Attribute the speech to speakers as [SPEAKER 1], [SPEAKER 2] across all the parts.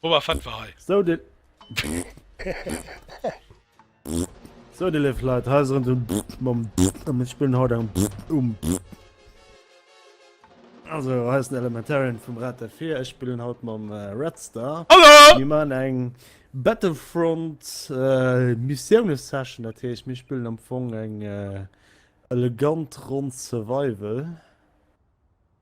[SPEAKER 1] Boba Fett war hei. Sou de
[SPEAKER 2] Sou de léif Leit, hei ass erem den Mom an mir spillen haut eng um Also hei ass den Elementarian vum Rad der 4, ech spillen haut mam Red Star. Hallo! Mir maachen eng Battlefront Missioune Session, dat heescht mir spillen am Fong eng elegant Ronn Survival.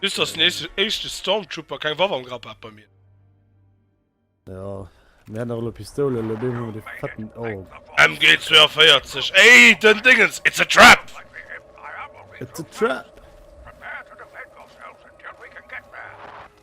[SPEAKER 1] Just ass den éischte Stormtrooper keng Waff am Grapp hat bei mir.
[SPEAKER 2] Ja, mir hätten och elo Pistoule, elo deen hunn mer dee fetten Orb. MG42, ey
[SPEAKER 1] den Dingens, it's a trap!
[SPEAKER 2] It's a trap!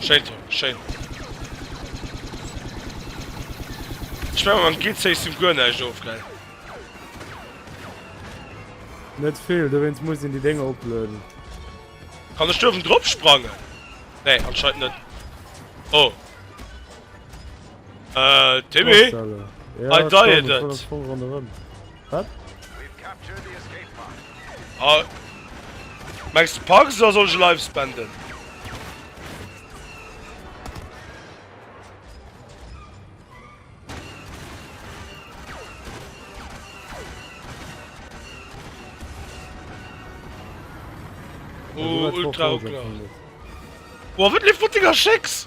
[SPEAKER 1] Schéin Tom, schéin. Ech menge mam Gear-System guer näischt of, gell?
[SPEAKER 2] Net vill, dowéinst muss een déi Dénger oplueden.
[SPEAKER 1] Kann ech duerfen drop sprangen? Nee, anscheinend net. Oh. Äh, Timmy? Postelle. Ja, I
[SPEAKER 2] died it. Wat?
[SPEAKER 1] Ah. Mengs de Parks oder soll ech e Life spenden? Oh, ultra klar. Boah, wat lief wat Dinger Schecks?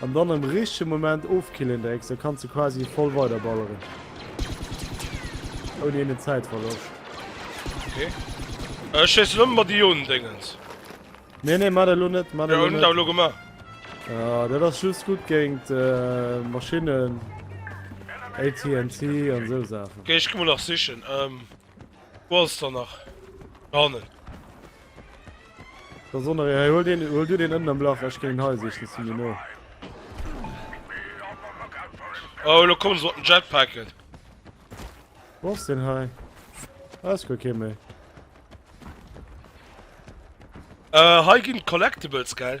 [SPEAKER 2] An dann
[SPEAKER 1] am
[SPEAKER 2] richtege Moment ofkillen drécks, da kanns de quasi voll weider balleren. Ouni eenen Zäitverloscht. Okay.
[SPEAKER 1] Ech schéissen ëmmer mat Ionen-Déngens. Nee, nee,
[SPEAKER 2] mat der elo net. Mat der elo net. Jo, hun dat elo gemaach.
[SPEAKER 1] Ah, dat
[SPEAKER 2] ass just gutt géint Maschinnen, AT&T an esou Saachen. Okay, ech gi mol nach sichen.
[SPEAKER 1] Wou ass der nach? Do hannen. Da
[SPEAKER 2] sonner hei, hol den, hol du den ënnen am Lach, ech ginn den hei sichen, si mir no.
[SPEAKER 1] Oh, lo kommen se mat den Jetpacken.
[SPEAKER 2] Wo ass den hei? Ah, ist gar kee méi.
[SPEAKER 1] Äh, hei ginn d'Collectibles, gell?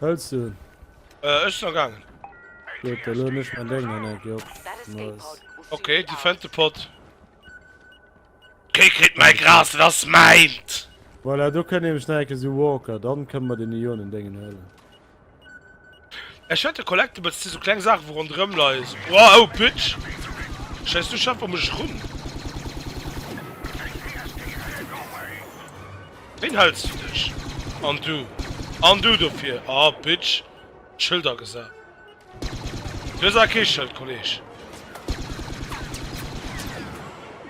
[SPEAKER 2] Hëls du? Äh, ech sinn
[SPEAKER 1] agaangen. Gutt, da
[SPEAKER 2] lueden ech mäin Déng an eng Kéier op. Nice.
[SPEAKER 3] Ok,
[SPEAKER 2] déi
[SPEAKER 3] fënnt de Pot.
[SPEAKER 1] Kee kritt mäi Gras, dat ass mäint! Voilà, do kënnt
[SPEAKER 2] nämlech nach eng Kéier esou Walker, dann kënne mer den Ionen-Déngen huelen.
[SPEAKER 1] Ech hätt e Collectibles, t si sou kleng Saachen wou ronderëm leie sou. Woah oh Pütsch! Scheiss du Schaf ëm mech run! Wéin hëls du dech? An du? An du dofir? Oh Pütsch! D'Schëld agesat. Du hues awer kee Schëld Kolleg!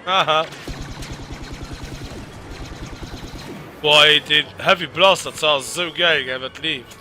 [SPEAKER 1] Haha! Boah ey deen Heavy Blaster, dat ass sou gäil gell wat leeft!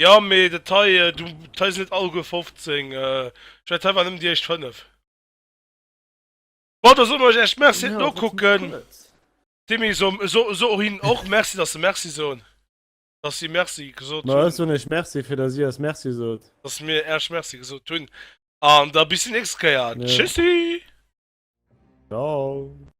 [SPEAKER 1] Jo mee dat hei, du dat hei sinn net alleguer 15, ech mengen dat hei waren nëmmen déi éischt 5. Bon da soe mer Iech Merci fir d'Nokucken.
[SPEAKER 2] Timmy so
[SPEAKER 1] so hinnen och Merci dass se Merci soen, dass si Merci gesot hunn. Ma ech soen Iech Merci
[SPEAKER 2] fir dass Dir eis Merci sot. Dass mir Iech Merci
[SPEAKER 1] gesot hunn an da bis déi nächst Kéier. Tschüssi! Ciao!